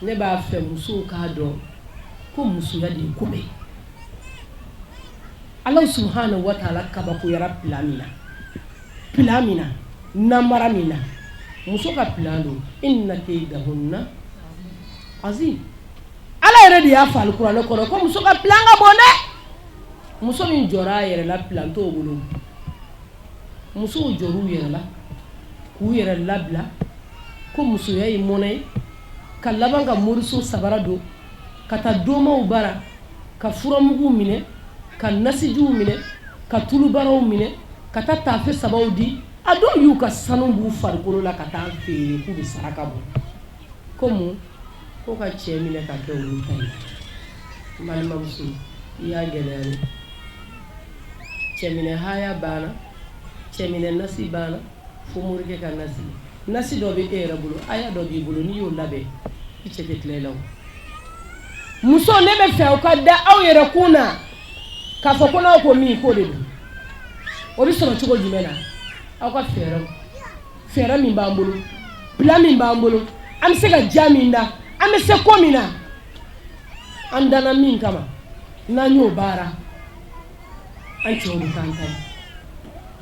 Ne b'a fɛ musow k'a dɔn ko musoya de ye ko bɛɛ Ala subhanahu wa ta'ala kabakoyara plan min na namara min na muso ka plan don inna kaydahunna azim Ala yɛrɛ de y'a fɔ kuranɛ kɔnɔ ko muso ka plan ka bon dɛ muso min jɔra a yɛrɛ la plan t'o bolo musow jɔr'u yɛrɛ la k'u yɛrɛ labila ko musoya ye mɔnɛ ye ka laban ka moriso sabara don ka taa domaw bara ka furamuguw minɛ ka nasijiw minɛ ka tulubaraw minɛ ka taa taafe sabaw di a dɔw y'u ka sanu b'u farikolo la ka taa feere k'u bɛ saraka bɔ ko mun ko ka cɛ minɛ ka kɛ olu ta ye balimamuso i y'a gɛlɛya dɛ cɛminɛ haya banna cɛminɛ nasi banna fo morikɛ ka nasi nasi dɔ bɛ e yɛrɛ bolo aya dɔ b'i bolo n'i y'o labɛn i cɛ tɛ tila i la muso ne bɛ fɛ u ka da aw yɛrɛ kun na k'a fɔ ko n'aw ko min ko de don o bɛ sɔrɔ cogo jumɛn na aw ka fɛɛrɛ fɛɛrɛ min b'an bolo plan min b'an bolo an bɛ se ka jan min da an bɛ se ko min na an danna min kama n'an y'o baara an cɛw bɛ k'an ta ye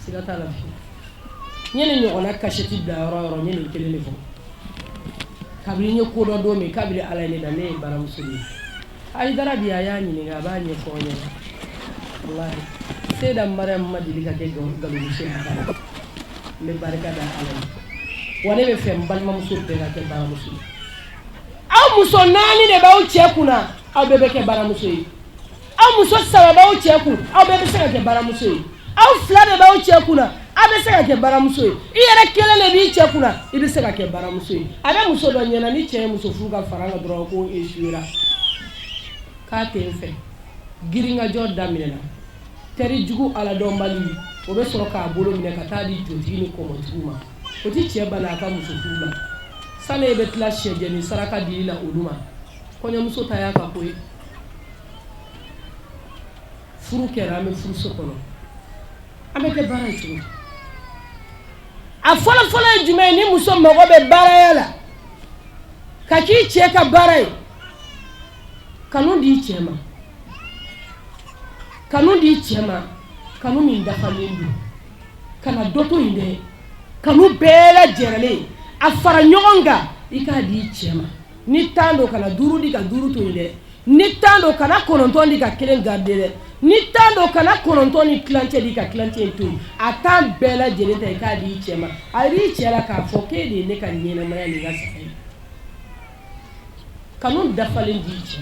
Siga t'a la n ye nin ɲɔgɔnna kasɛti bila yɔrɔ o yɔrɔ n ye nin kelen de fɔ kabini n ye ko dɔn don min kabini Ala ye ne da ne ye baramuso de ye Ayidara bi a y'a ɲininka a b'a ɲɛfɔ aw ɲɛna walahi Seyida Mariyamu ma deli ka kɛ galomuso ye abada n bɛ barika da Ala ye wa ne bɛ fɛ n balimamuso bɛɛ ka kɛ baramuso ye aw muso naani de b'aw cɛ kunna aw bɛɛ bɛ kɛ baramuso ye aw muso saba b'aw cɛ kun aw bɛɛ bɛ se ka kɛ baramuso ye aw fila de b'aw cɛ kun aw bɛ se ka kɛ baramuso ye i yɛrɛ kelen de b'i cɛ kun i bɛ se ka kɛ baramuso ye a bɛ muso dɔ ɲɛna ni cɛ ye muso furu ka fara a kan dɔrɔn ko échouera k'a tɛ n fɛ girinkajɔ daminɛna teri jugu aladɔnbali o bɛ sɔrɔ k'a bolo minɛ ka taa di jotigi ni kɔmɔtigiw ma o tɛ cɛ bali a ka muso furu la sani e bɛ tila sɛjɛnin saraka dili la olu ma kɔɲɔmuso ta y'a ka ko ye furu kɛra an bɛ furuso kɔnɔ an bɛ kɛ bara ye cogo a fɔlɔfɔlɔ ye jumɛn ye ni muso mago bɛ baraya la ka k'i cɛ ka bara ye kanu di i cɛ ma kanu di i cɛ ma kanu min dafalen don kana dɔ to yen dɛ kanu bɛɛ lajɛlen a fara ɲɔgɔn kan i k'a di i cɛ ma ni tan don kana duuru di ka duuru to dɛ ni tan don kana kɔnɔntɔn di ka kelen garidi dɛ ni tan don kana kɔnɔntɔn ni tilancɛ di ka tilancɛ to a tan bɛɛ lajɛlen ta i k'a di i cɛ ma a yira i cɛ la k'a fɔ e de ye ne ka ɲɛnɛmaya ni n ka saya ye kanu dafalen di cɛ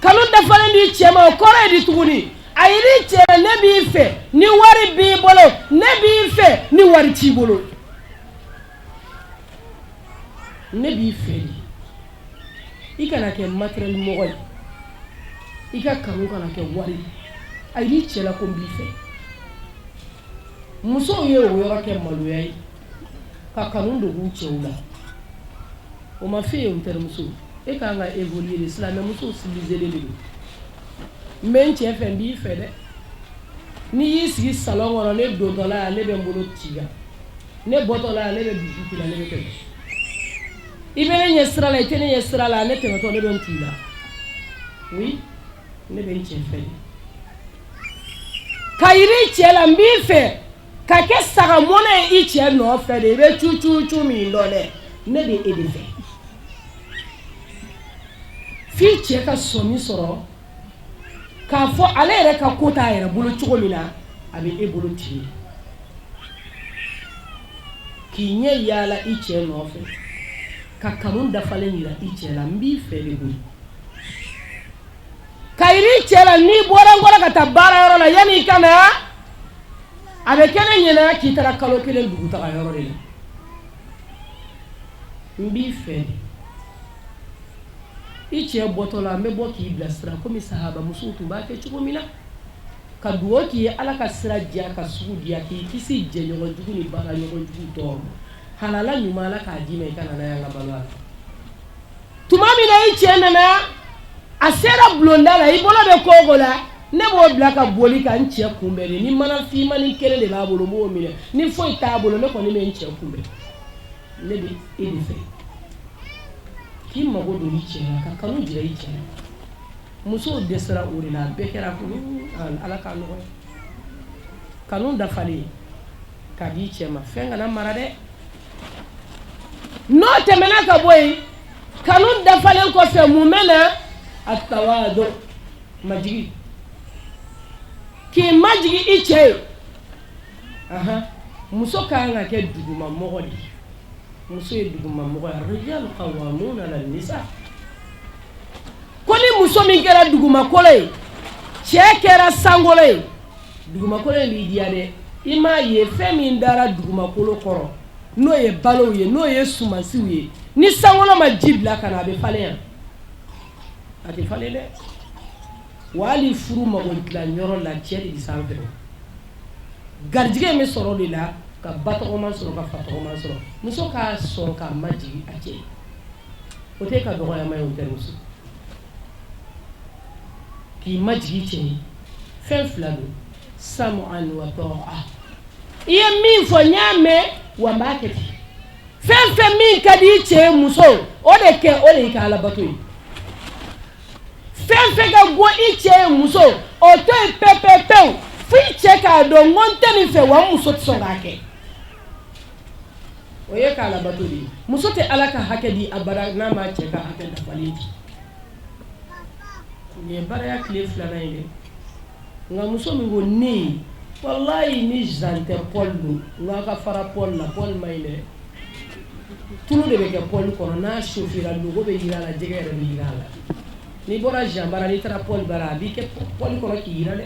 kanu dafalen di cɛ ma o kɔrɔ ye di tuguni a yira i cɛ ne b'i fɛ ni wari b'i bolo ne b'i fɛ ni wari t'i bolo ne b'i fɛ de i kana kɛ matériel mɔgɔ ye i ka kanu kana kɛ wari ye a yira i cɛ la ko n b'i fɛ musow ye o yɔrɔ kɛ maloya ye ka kanu dogo u cɛw la o ma f'e ye n terimuso e ka kan ka évoluer de silamɛmuso civiliselen de don n bɛ n cɛ fɛ n b'i fɛ dɛ n'i y'i sigi salon kɔnɔ ne dontɔla yan ne bɛ n bolo ci i kan ne bɔtɔ la ne bɛ bisou k'i la ne bɛ tɛmɛ i bɛ ne ɲɛ sira la i tɛ ne ɲɛ sira la ne tɛmɛtɔ ne bɛ n k'i la oui ne bɛ n cɛ fɛ k'a yira i cɛ la n b'i fɛ ka kɛ saga mɔnɛ ye i cɛ nɔfɛ de i bɛ cu cu cu min dɔn dɛ ne bɛ e de fɛ f'i cɛ ka sɔmi sɔrɔ k'a fɔ ale yɛrɛ ka ko t'a yɛrɛ bolo cogo min na a bɛ e bolo ten k'i ɲɛ yaala i cɛ nɔfɛ ka kanu dafalen yira i cɛ la n b'i fɛ de koyi k'a yira i cɛ la n'i bɔra n kɔrɔ ka taa baara yɔrɔ la yanni i ka na a bɛ kɛ ne ɲɛna k'i taara kalo kelen dugutaga yɔrɔ de la n b'i fɛ de i cɛ bɔtɔ la n bɛ bɔ k'i bilasira komi sahabamusow tun b'a kɛ cogo min na ka dugawu k'i ye ala ka sira diya ka sugu diya k'i kisi jɛɲɔgɔn jugu ni baara ɲɔgɔn jugu tɔɔrɔ ma halala ɲuman ala k'a d'i ma i ka na n'a ye an ka balo a la tuma min na i cɛ nana a sera bulonda la i bolo bɛ ko o ko la ne b'o bila ka boli ka n cɛ kunbɛn de ni mana finmani kelen de b'a bolo n b'o minɛ ni foyi t'a bolo ne kɔni bɛ n cɛ kunbɛn ne bɛ e de fɛ k'i mago don i cɛ la ka kanu jira i cɛ la musow dɛsɛra o de la a bɛɛ kɛra kunu ala k'a nɔgɔya kanu dafalen k'a di i cɛ ma fɛn kana mara dɛ n'o tɛmɛna ka bɔ yen kanu dafalen kɔfɛ mun bɛ na atawadu majigi k'i majigi i cɛ ye muso ka kan ka kɛ duguma mɔgɔ de ye muso ye duguma mɔgɔ ye rijalu qawwamuna ala nisa ko ni muso min kɛra dugumakolo ye cɛ kɛra sankolo ye dugumakolo in b'i diya dɛ i m'a ye fɛn min dara dugumakolo kɔrɔ n'o ye balow ye n'o ye sumansiw ye ni sankolo ma ji bila ka na a bɛ falen yan a tɛ falen dɛ Wa hali furu mago dilan yɔrɔ la cɛ de bɛ sanfɛ o. Garijigɛ in bɛ sɔrɔ o de la ka ba tɔgɔma sɔrɔ ka fa tɔgɔma sɔrɔ. Muso ka sɔn ka majigin a cɛ ye. O tɛ e ka dɔgɔyama ye o terimuso. K'i majigin i cɛ ye fɛn fila don sam'an wa ta'a i ye min fɔ n y'a mɛn wa n b'a kɛ ten. Fɛn fɛn min ka di i cɛ ye muso o de kɛ o de y'i ka alabato ye. fɛn fɛn ka go i cɛ ye muso o to yen pepepewu fo i cɛ k'a dɔn ko n tɛ nin fɛ wa n muso tɛ sɔn k'a kɛ o y'i ka alabato de ye muso tɛ ala ka hakɛ di abada n'a ma cɛ ka hakɛ dafalen di nin ye baaraya tile filanan ye dɛ nka muso min ko ne walayi ni zan tɛ paul don nka ka fara paul la paul ma ɲi dɛ Tulu de bɛ kɛ paul kɔnɔ n'a sofera loko bɛ jiran a la jɛgɛ yɛrɛ bɛ jiran a la n'i bɔra zan bara n'i taara paul bara a b'i kɛ paul kɔnɔ k'i jiran dɛ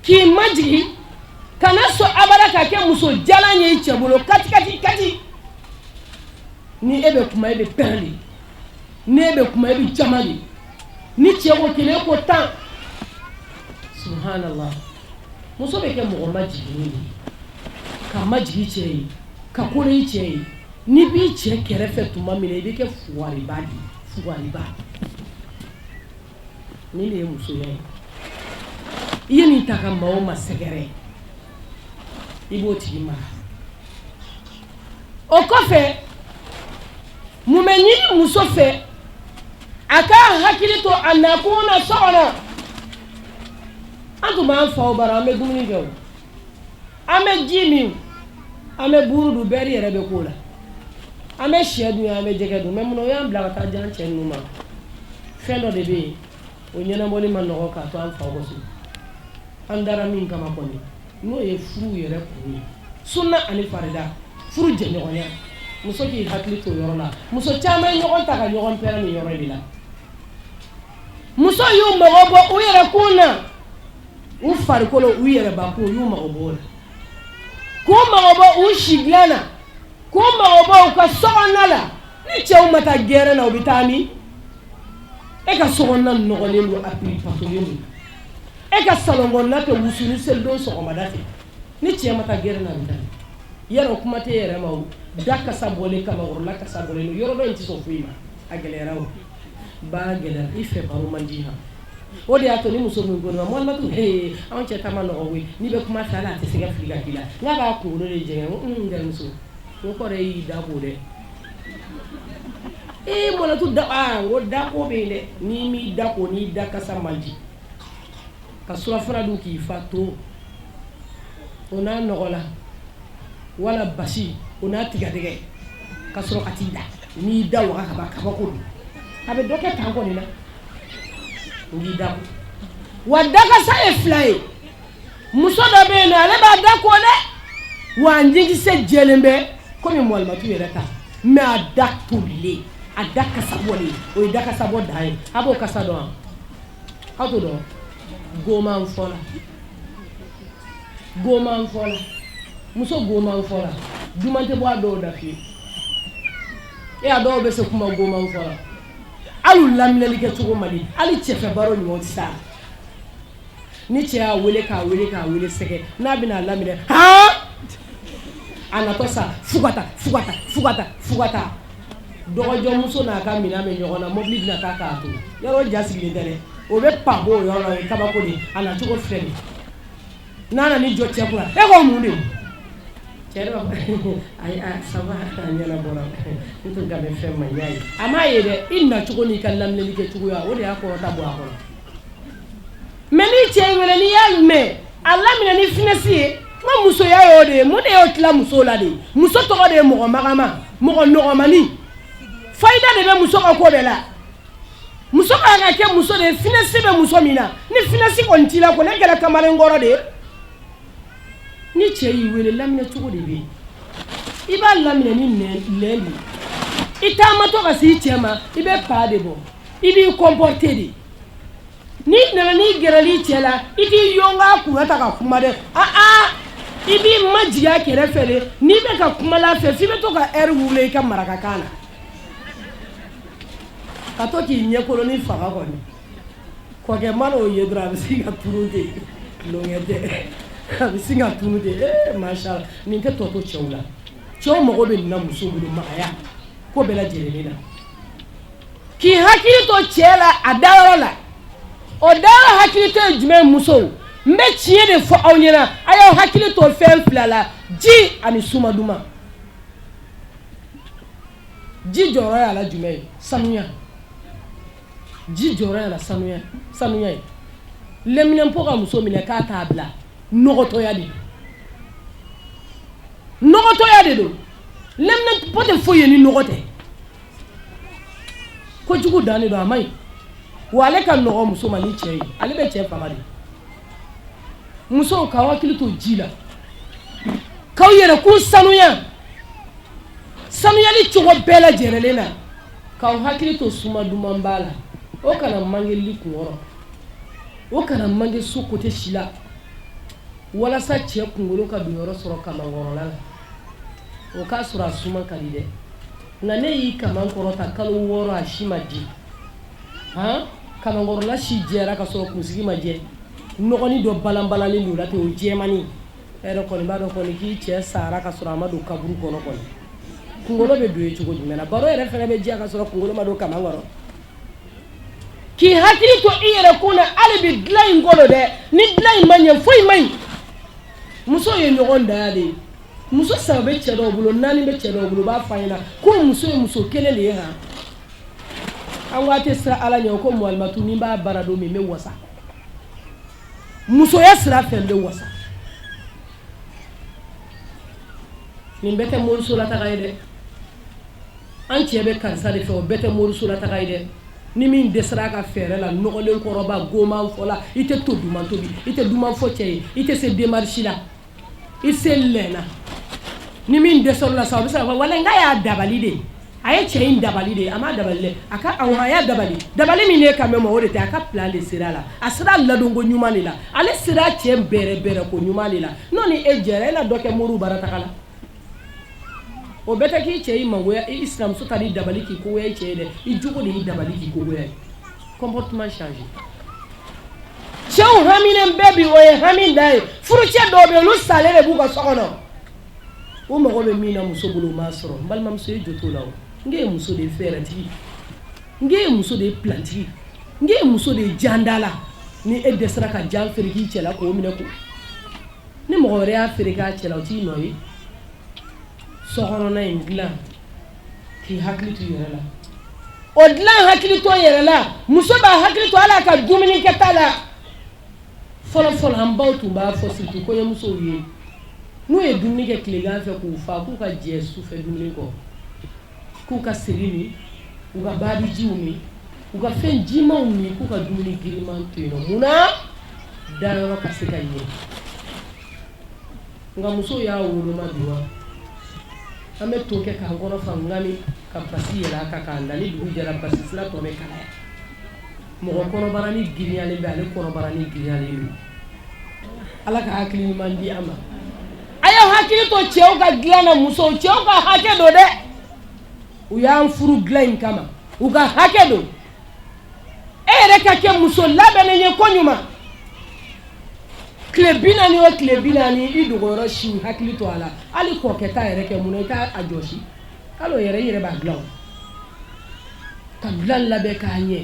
k'i majigin kana sɔn abada ka kɛ muso jalan ye i cɛ bolo kati kati kati ni e bɛ kuma e bɛ pɛrɛn de ni e bɛ kuma e bɛ jaman de ni cɛ ko kelen ko tan muso bɛ kɛ mɔgɔ majiginnen ye ka majigin cɛ ye ka kolo i cɛ ye n'i b'i cɛ kɛrɛfɛ tuma min i bɛ kɛ fuwariba fuwariba nin de ye muso ye i ye nin ta ka maa o maa sɛgɛrɛ i b'o tigi mara o kɔfɛ mun bɛ ɲini muso fɛ a ka hakili to a nakun na so kɔnɔ an tun b'an faw bara an bɛ dumuni kɛ o an bɛ ji min an bɛ buuru dun bɛri yɛrɛ bɛ k'o la an bɛ sɛ dun an bɛ jɛgɛ dun mɛ mun na o y'an bila ka taa di an cɛ ninnu ma fɛn dɔ de bɛ yen o ɲɛnabɔli ma nɔgɔ k'a to an faw ka so an dara min kama kɔni n'o ye furu yɛrɛ kun ye sunna ani farida furu jɛɲɔgɔnya muso k'i hakili to o yɔrɔ la muso caman ye ɲɔgɔn ta ka ɲɔgɔn pɛrɛn nin yɔrɔ de la musow y'u mago bɔ u yɛrɛ kun na u farikolo u yɛrɛbakun u y'u mago b'o la k'u mago bɔ u si dilan na k'u mago bɔ u ka sokɔnɔna la ni cɛw ma taa gɛrɛn na u bɛ taa min e ka sokɔnɔna nɔgɔlen don a piri patolen don e ka salon kɔnɔna tɛ wusu ni selidon sɔgɔmada fɛ ni cɛ ma taa gɛrɛn na a bɛ taa yɛrɛ kuma tɛ yɛrɛ ma o da kasa bɔlen kamankɔrɔla kasa bɔlen don yɔrɔ dɔ in tɛ sɔn foyi ma a gɛlɛyara o baara gɛlɛyara i fɛ baro man di ma o de y'a to ni muso min ko mɔlimatu ee anw cɛ ta man nɔgɔ koyi n'i bɛ kuma sa la a tɛ se ka fili ka k'i la n'a b'a kunkolo de jɛngɛ ko n terimuso o kɔrɔ y'i da ko dɛ ee mɔlimatu da aa ko dako bɛ yen dɛ n'i m'i da ko n'i da kasa man di ka surafana dun k'i fa to o n'a nɔgɔ la wala basi o n'a tigadɛgɛ ka sɔrɔ ka t'i da n'i da waga ka ban kabako don a bɛ dɔ kɛ tan kɔni na o b'i da ko wa dakasa ye fila ye muso dɔ bɛ yen nɔ ale b'a da ko dɛ wa a ɲɛkisɛ jɛlen bɛ komi mɔlimatu yɛrɛ ta mais a da tolilen a da kasa bɔlen o ye dakasa bɔ dan ye a b'o kasa dɔn wa aw t'o dɔn wa goman fɔla goman fɔla muso goman fɔla duman tɛ bɔ a dɔw da fiyewu e a dɔw bɛ se kuma goman fɔ la hali laminɛli kɛ cogo man di hali cɛfɛ baro ɲuman tɛ sa ni cɛ y'a wele k'a wele k'a wele sɛgɛn n'a bɛna a laminɛ haa a natɔ sa fugata fugata fugata fugata dɔgɔjɔmuso n'a ka minɛn bɛ ɲɔgɔn na mobili bɛna taa k'a to yɔrɔ ja sigilen tɛ dɛ o bɛ pan b'o yɔrɔ la o ye kabako de ye a na cogo filɛ nin ye n'a nana i jɔ cɛ kunna e ko mun de cɛ b'a fɔ ayi a ça va a ɲɛna bɔra n tun ka bɛ fɛn ma y'a ye a m'a ye dɛ i na cogo n'i ka laminɛli kɛ cogoya o de y'a kɔrɔta bɔ a kɔnɔ Mais ni cɛ y'i wele n'i y'a mɛn a laminɛ ni finesse ye ko musoya y'o de ye mun de y'o tila muso la de ye muso tɔgɔ de ye mɔgɔ magaman mɔgɔ nɔgɔmanin fayida de bɛ muso ka ko bɛɛ la muso ka kan ka kɛ muso de ye finesse bɛ muso min na ni finesse kɔni t'i la ko ne kɛra kamalen kɔrɔ de ye ni cɛ y'i wele laminɛ cogo de bɛ yen i b'a laminɛ ni de i taamatɔ ka s'i cɛ ma i bɛ pa de bɔ i b'i comporter de N'i nana n'i gɛrɛl'i cɛ la i t'i yɔnga a kun na tan ka kuma dɛ i b'i majigin a kɛrɛ fɛ de n'i bɛ ka kuma a fɛ f'i bɛ to ka r rouler i ka marakakan na ka to k'i ɲɛkolonin faga kɔni kɔkɛ mana o ye dɔrɔn a bɛ sin ka tunu ten a bɛ sin ka tunu ten ma nin tɛ tɔ to cɛw la cɛw mago bɛ min na muso bolo de magaya ko bɛɛ lajɛlen na k'i hakili to cɛ la a dayɔrɔ la o dayɔrɔ hakili to ye jumɛn ye musow n bɛ tiɲɛ de fɔ aw ɲɛna a y'aw hakili to fɛn fila la ji ani suma duman ji jɔyɔrɔ y'a la jumɛn ye sanuya ji jɔyɔrɔ y'a la sanuya sanuya ye leminanpo ka muso minɛ ka t'a bila nɔgɔtɔya de o nɔgɔtɔya de don tɛ foyi ye ni nɔgɔ tɛ kojugu dan de don a man ɲi wa ale ka nɔgɔn muso ma ni cɛ ye ale bɛ cɛ faga de musow k'aw hakili to ji la k'aw yɛrɛ kun sanuya sanuyali cogo bɛɛ lajɛlen na k'aw hakili to suma duman ba la o kana mange i kun kɔrɔ o kana mange su kote si la walasa cɛ kunkolo ka don yɔrɔ sɔrɔ kamankɔrɔla la o k'a sɔrɔ a suma ka di dɛ nka n'e y'i kaman kɔrɔta kalo wɔɔrɔ a si ma di han kamankɔrɔla si jɛra ka sɔrɔ kunsigi ma jɛ nɔgɔnin dɔ balanbalalen don la ten o jɛmani e yɛrɛ kɔni b'a dɔn kɔni k'i cɛ sara ka sɔrɔ a ma don kaburu kɔnɔ kɔni kunkolo bɛ don yen cogo jumɛn na baro yɛrɛ fana bɛ diya ka sɔrɔ kunkolo ma don kaman kɔrɔ k'i hakili to i yɛrɛ kun na hali bi dilan in kɔnɔ dɛ ni dilan in ma ɲɛ foyi man ɲi Muso ye ɲɔgɔndan de ye muso saba bɛ cɛ dɔw bolo naani bɛ cɛ dɔw bolo u b'a f'an ɲɛna ko muso ye muso kelen de ye han an ko a tɛ siran ala ɲɛ ko mualimatu n'i b'a baara dɔn min bɛ wasa musoya sira fɛ n bɛ wasa nin bɛɛ tɛ moriso la taga ye dɛ An cɛ bɛ karisa de fɛ o bɛɛ tɛ moriso la taga ye dɛ ni min dɛsɛra a ka fɛɛrɛ la nɔgɔlen kɔrɔba goman fɔla i tɛ to duman tobi i tɛ duman fɔ cɛ ye i tɛ se démarche la i se lala ni min dɛsɛra a la sa a bɛ se ka fɔ wala n k'a y'a dabali de a ye cɛ in dabali de ye a ma dabali a ka a y'a dabali dabali min ye ka mɛ mɔgɔ de tɛ a ka pilan de sera a la a sera ladon ko ɲuman de la ale sera cɛ bɛrɛ bɛrɛ ko ɲuman de la n' ni e jɛra e la dɔ kɛ mori bara taa la o bɛɛ tɛ k'i cɛ i mangoya i sinamuso ka di dabali k'i kogoya i cɛ ye dɛ i jogo de y'i dabali k'i kogoya ye comportement changé cɛw haminen bɛɛ bi o ye hami dan ye furucɛ dɔw bɛ yen olu salen de b'u ka so kɔnɔ u mago bɛ min na muso bolo u m'a sɔrɔ n balimamuso ye jo t'o la o n k'e ye muso de ye fɛɛrɛtigi n k'e ye muso de ye pilantigi n k'e ye muso de ye jandala ni e dɛsɛra ka jan feere k'i cɛ la k'o minɛ ko ni mɔgɔ wɛrɛ y'a feere k'a cɛ la o t'i nɔ ye sokɔnɔna in dilan k'i hakili to yɛrɛ la o dilan hakili to yɛrɛ la muso b'a hakili to ale ka dumuni kɛta la fɔlɔfɔlɔ an baw tun b'a fɔ surtout kɔɲɔmusow ye n'u ye dumuni kɛ tilegan fɛ k'u fa k'u ka jɛ su fɛ dumuni kɔ k'u ka seri min u ka barijiw min u ka fɛn jimanw min k'u ka dumuni giriman to yen mun na dayɔrɔ ka se ka ɲɛ nka musow y'a woloma bi wa an bɛ to kɛ k'an kɔnɔ fa ani ka basi yɛlɛ a kan k'an da ni dugu jɛra basi sira tɔ bɛ kalaya mɔgɔ kɔnɔbara ni giriyalen bɛ ale kɔnɔbara ni giriyalen don ala ka hakili ɲuman di an ma a ye hakili to cɛw ka dilan na musow cɛw ka hakɛ don dɛ u y'an furu dilan in kama u ka hakɛ don e yɛrɛ ka kɛ muso labɛnnen ye ko ɲuman tile bi naani o tile bi naani i dogoyɔrɔ siw hakili to a la hali kɔkɛ ta yɛrɛ kɛ mun na i t'a jɔsi hali o yɛrɛ i yɛrɛ b'a dilan o ka dilan labɛn k'a ɲɛ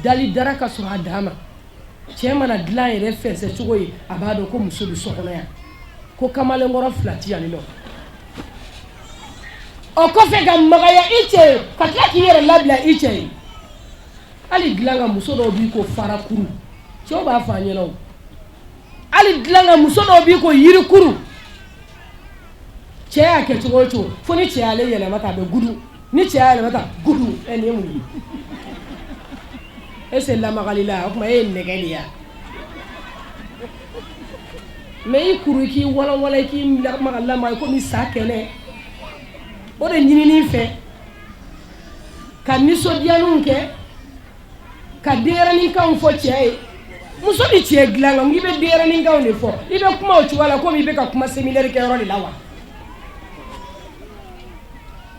dali dara ka sɔrɔ a dan ma cɛ mana dilan yɛrɛ fɛnsɛ cogo ye a b'a dɔn ko muso bɛ so kɔnɔ yan ko kamalenkɔrɔ fila ti yan nɔ o kɔfɛ ka magaya i cɛ ye ka tila k'i yɛrɛ labila i cɛ ye hali dilan kan muso dɔw b'i ko farakuru cɛw b'a fɔ an ɲɛna hali dilan kan muso dɔw b'i ko yirikuru cɛ y'a kɛ cogo o cogo fo ni cɛ y'ale yɛlɛma tan a bɛ gudu ni cɛ y'a yɛlɛma tan gudu ɛ nin ye mun ye e se lamagali la o tuma e ye nɛgɛ de ya mais i kuru i k'i walawala i k'i lamaga lamaga i komi sa kɛnɛ o de ɲininen i fɛ ka nisɔndiyaninw kɛ ka denyɛrɛninkanw fɔ cɛ ye muso ni cɛ dilan kan i bɛ denyɛrɛninkanw de fɔ i bɛ kuma o cogoya la komi i bɛ ka kuma seli kɛyɔrɔ de la wa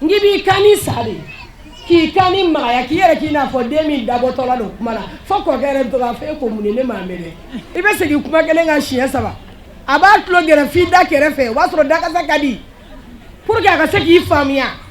n'i b'i kannin sa de k'i kannin magaya k'i yɛrɛ k'i n'a fɔ den min dabɔtɔla don kuma la fo kɔkɛ yɛrɛ bɛ to k'a fɔ e ko mun ne m'a mɛn i bɛ segin kuma kelen kan siɲɛ saba a b'a tulo gɛrɛ f'i da kɛrɛfɛ o b'a sɔrɔ dakasa ka di pour que a ka se k'i faamuya